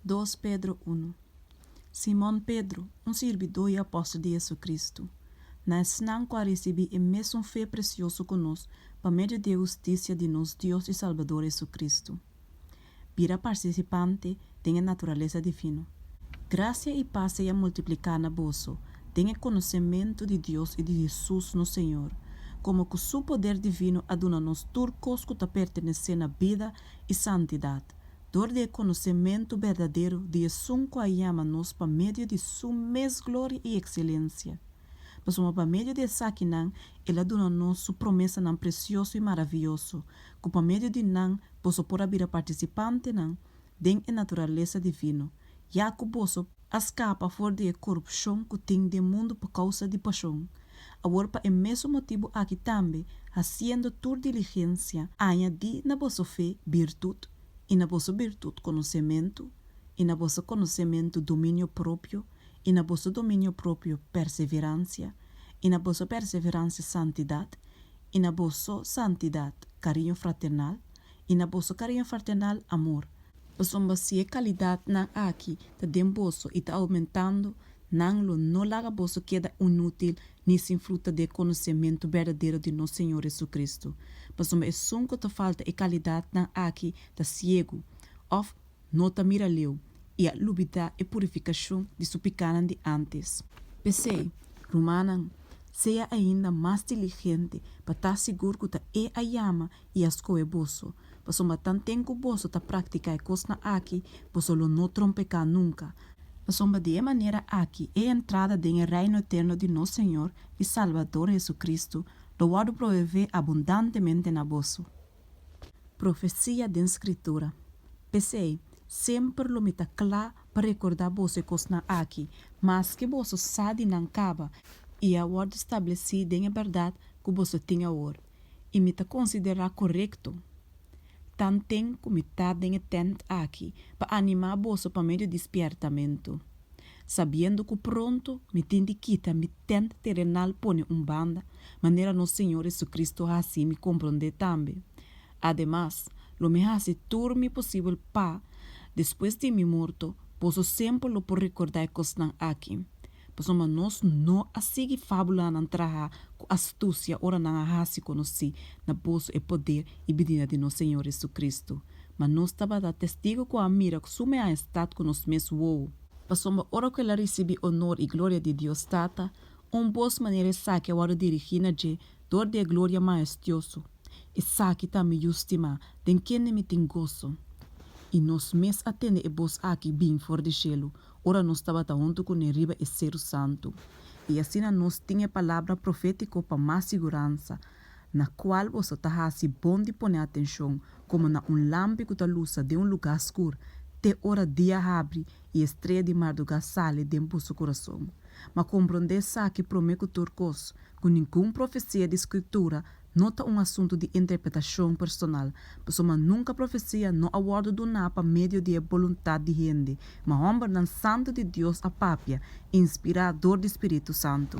Dos Pedro unu Simon Pedro, un sirbidó i apòstel di JesuCristu, na esnan ku a risibí e mesun fe presioso ku nos pa medio di e hustisia di nos Dios i Salbador JesuCristu, bira partisipante den e naturalesa difino. Grasia i pas seya multipliká na boso den e konosementu di Dios i di Hesus nos Señor, komo ku Su poder divino a duna nos tur kos ku ta pertenesé na bida i santidat, dor di e konosementu berdadero di Esun ku a yama nos pa medio di Su mes gloria i ekselencia. Pasobra pa medio di esakinan El a duna nos Su promesanan presioso i maravioso, ku pa medio di nan boso por a bira partisipantenan den e naturalesa divino, ya ku boso a skapa for di e korupshon ku tin den mundu pa kousa di pashon. Awor pa e mesun motibu aki tambe, hasiendo tur diligensia, añadí na boso fe birtut, i na boso birtut konosementu, i na boso konosementu dominio propio, i na boso dominio propio perseveransia, i na boso perseveransia santidat, i na boso santidat kariño fraternal, i na boso kariño fraternal amor. Pasobra si e kalidatnan aki ta den boso i ta oumentando, nan lo no laga boso keda inútil ni sin fruta di e konosementu berdadero di nos Señor Jesucristo. Pasobra esun ku ta falta e kalidatnan aki ta siegu, òf no ta mira leu, i a lubidá e purifikashon di su pikánan di ántes. P'esei, rumannan, sea ainda mas diligente pa ta sigur ku ta e a yama i a skohe boso. Pasobra tanten ku boso ta praktiká e kosnan akí, boso lo no trompeká nunka. Pasobra di e manera akí e entrada den e Reino eterno di nos Señor i Salbador Hesukristu lo wòrdu provevé abundantemente na boso. Profesia den Skritura. P'esei, semper lo mi ta kla pa rekordá boso e kosnan akí, maske boso sa di nan kaba i a wòrdu stablesí den e bèrdat ku boso tin awor. i mi ta konsiderá korekto. Tanten ku mi ta den e tènt aki pa animá boso pa medio di spièrtamentu, sabiendo ku pronto mi tin di kita mi tènt terenal pone un banda, manera nos Señor Hesukristu hasi mi komprondé tambe. Ademas, lo mi hasi tur mi posibel pa, despues di mi morto, boso semper lo por rekordá e kosnan aki. Pasobra nos no a sigui fábulanan traha ku astusia ora nan a hasi konosí na boso e poder i bidida di nos Señor Jesucristo. Ma nos tabata testigu ku a mira ku su Meaestat ku nos mes wou. Pasobra ora ku el a risibí onor i gloria di Dios Tata, un bos manera esaki a wòrdu dirigí na dje dor di e gloria maestioso. Esaki ta mi Yu stimá, den kende mi tin goso. I nos mes a tende e bos akí bini for di shelu, ora nos tabata huntu cu ne riba e Seru Santu. I asina nos tin e palabra profetico pa mas siguransa, Na cual boso ta haci bon di pone atencion, como na un lampi cu ta lusa den un lugar scur, te ora dia habri i e strea di marduga sali den boso curason. Ma combrond'é esaki prome cu tur cos, cu ningun profecia di Scritura no ta un asuntu di interpretashon personal, pasobra mas nunka profesia no a wòrdu duná pa medio di e boluntat di hende, ma hòmbernan santu di Dios a papia, inspirá dor di Spiritu Santu.